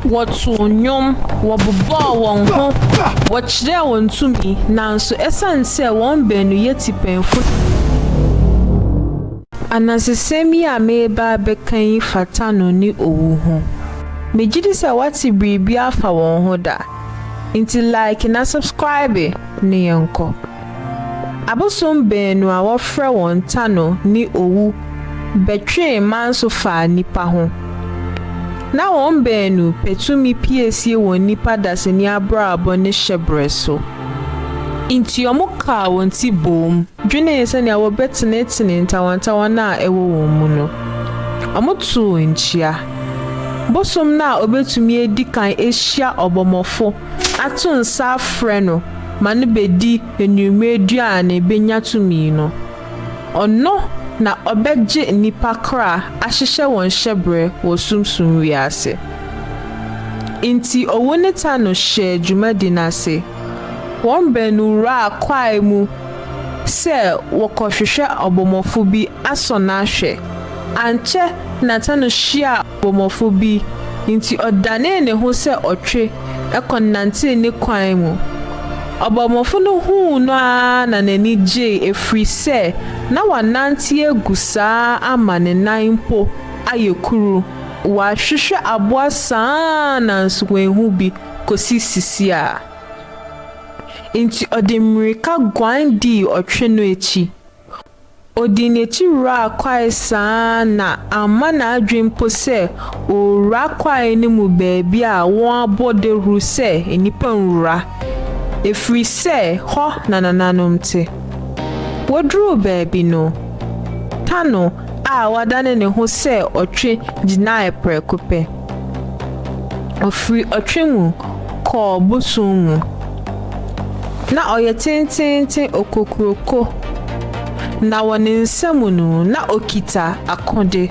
Wɔtoo nnwom, wɔbobɔɔ wɔn ho, wɔkyerɛɛ wɔn tumi, nanso esiane sɛ wɔn baanu yɛ tipɛnfo na wonnim nyansa. Anansesɛm yi a mereba abɛka yi fa Tano ne owu ho. Megye di sɛ woate biribi afa wɔn ho da. Enti like na subscribe na yɛnkɔ. Abosom baanu a wɔfrɛ wɔn Tano ne Owu bɛtwee Manso faa nnipa ho. Ná wɔn baanu pɛ tumi piesie wɔ nnipa dasani abrabɔ ne hyɛbrɛ so. Enti wɔkaa wɔn ti boom dwenee sɛnea wɔbɛtenetene ntawantawana a ɛwɔ wɔn mu no. Wɔtoo nkyia. Bosom no a obetumi adi kan ahyia ɔbɔmmɔfo ato nsa afrɛ no ma no bedi anwummere aduan na ebenya tumi no. Ɔno na ɔbɛgye nnipa kra ahyehyɛ wɔn hyɛbrɛ wɔ sunsum wiase. Enti owu ne ta no hyɛɛ dwumadi no ase. Wɔn baanu wuraa kwae mu sɛ wɔkɔhwehwɛ ɔbɔmmɔfo bi asɔ no ahwɛ. Ankyɛ na Tano hyiaa ɔbɔmmɔfo bi, enti ɔdanee ne ho sɛ ɔtwe kɔnantee ne kwan mu. Ɔbɔmmɔfo no huu no ara na n'ani gyei ɛfiri sɛ na wanante agu saa ama ne nan mpo ayɛ kuru. Wahwehwɛ aboa saa ara nanso wanhu bi kɔsi sisiaa, enti ɔde mmirika guan dii ɔtwe no akyi. Ɔdii n'akyi wuraa kwae saa ara na amma n'adwene mpo sɛ ɔrewura kwae no mu baabi a wɔabɔ dawuru sɛ nnipa nwura, ɛfiri sɛ hɔ na nananom te. Wɔduruu baabi no, Tano a wadane ne ho sɛ ɔtwe gyinaeɛ prɛko pɛ. Ɔfiri ɔtwe mu kɔɔ bosom mu. Na ɔyɛ tenteenten okokuroko, na wɔ ne nsa mu no, na ɔkita akode.